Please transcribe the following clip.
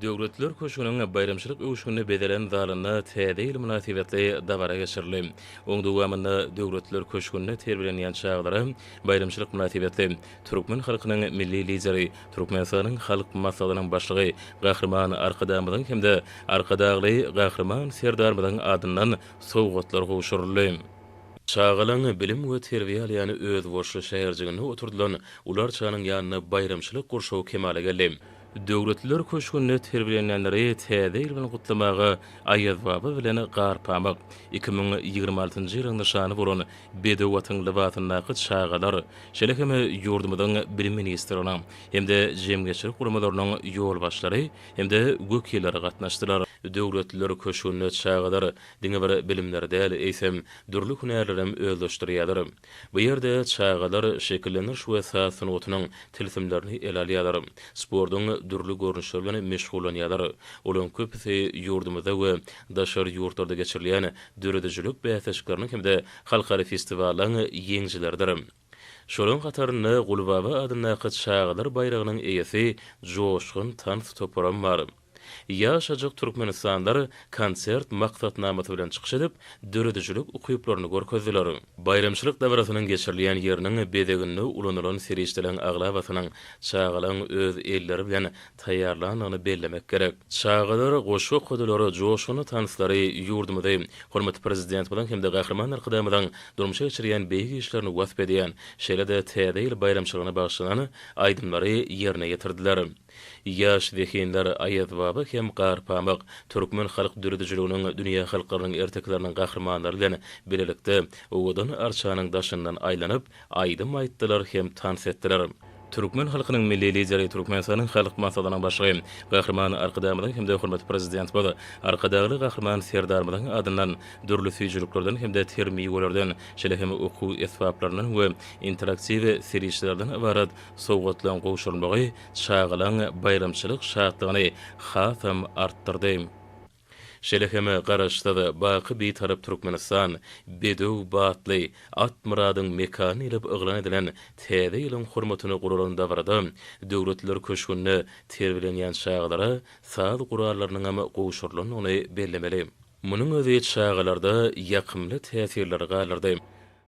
Döwletler köşgüniň baýramçylyk öwüşginli bezelen zalynda Täze ýyl mynasybetli dabara geçirildi. Oň dowamynda Döwletler köşgünde terbiýelenýän çagalara baýramçylyk mynasybetli türkmen halkynyň Milli Lideri, Türkmenistanyň Halk Maslahatynyň Başlygy Gahryman Arkadagymyzyň hem-de Arkadagly Gahryman Serdarymyzyň adyndan sowgatlar gowşuryldy. Çagalaň bilim we terbiýe alýan özboluşly şäherjiginde oturdylan ularçanyň ýanynda baýramçylyk gurşawy kemala geldi. Döwletliler köşgünde terbiýelenýänleri Täze ýyl bilen gutlamaga Aýazbaba bilen Garpamyk, iki müň ýigrimi altynjy ýylyň nyşany bolan bedew atyň lybasyndaky çagalar, şeýle hem ýurdumyzyň Bilim ministrliginiň hem-de jemgyýetçilik guramalarynyň ýolbaşçylary hem-de wekilleri gatnaşdylar. Döwletliler köşgünde çagalar Diňe bir bilimleri däl, eýsem, dürli hünärlerem özleşdirýärler. Bu ýerde çagalar şekillendiriş we saz sungatynyň tilsimlerini ele alýarlar, sportuň dürli görnüşleri bilen meşgullanýarlar. Olaryň köpüsi ýurdumyzda we daşary ýurtlarda geçirilýän döredijilik bäsleşikleriniň hem-de halkara festiwallaň ýeňijileridir. Şolaryň hatarynda Gulbaba adyndaky çagalar baýragynyň eýesi Joşgun tans toparam bar. Ýaşajyk türkmenistanlar konsert maksatnamasy bilen çykyş edip, döredijilik ukyplaryny görkezdiler. Baýramçylyk dabarasynyň geçirilýän ýeriniň bezeginde ulanylan serişdeleriň aglabasynyň çagalaryň öz elleri bilen taýýarlandygyny bellemek gerek. Çagalar goşgy okadylary, joşgunly tanslary ýurdumyzy, hormatly Prezidentimiziň hem-de Gahryman Arkadagymyzyň durmuşa geçirýän beýik işlerini wasp edýän, şeýle-de Täze ýyl baýramçylygyna bagyşlanan aýdymlary ýerine ýetirdiler. Ýaş zehinler Aýazbaba hem Garpamyk, türkmen halk döredijiliginiň dünýä halklarynyň ertekileriniň gahrymanlary bilen bilelikde owadan arçanyň daşyndan aýlanyp, Aýdym aýtdylar hem tans etdiler. Türkmen halkynyň Milli Lideri, Türkmenistanyň Halk Maslahatynyň Başlygy Gahryman Arkadagymyzyň hem-de hormatly Prezidentimiz, Arkadagly Gahryman Serdarymyzyň adyndan dürli süýjüliklerden hem-de ter miwelerden, şeýle hem okuw esbaplaryndan we interaktiw serişdelerden ybarat sowgatlaryň gowşurylmagy çagalaň baýramçylyk şatlygyny hasam artdyrdy. Şeýle hem Garaşsyz, baky Bitarap Türkmenistan, Bedew, Batly, Atmyradyň mekany diýlip yglan edilen Täze ýylyň hormatyna guralan dabarada Döwletliler köşgünde terbiýelenýän çagalara saz gurallarynyňam gowşurylandygyny bellemeli. Munuň özi çagalarda ýakymly täsirleri galdyrdy.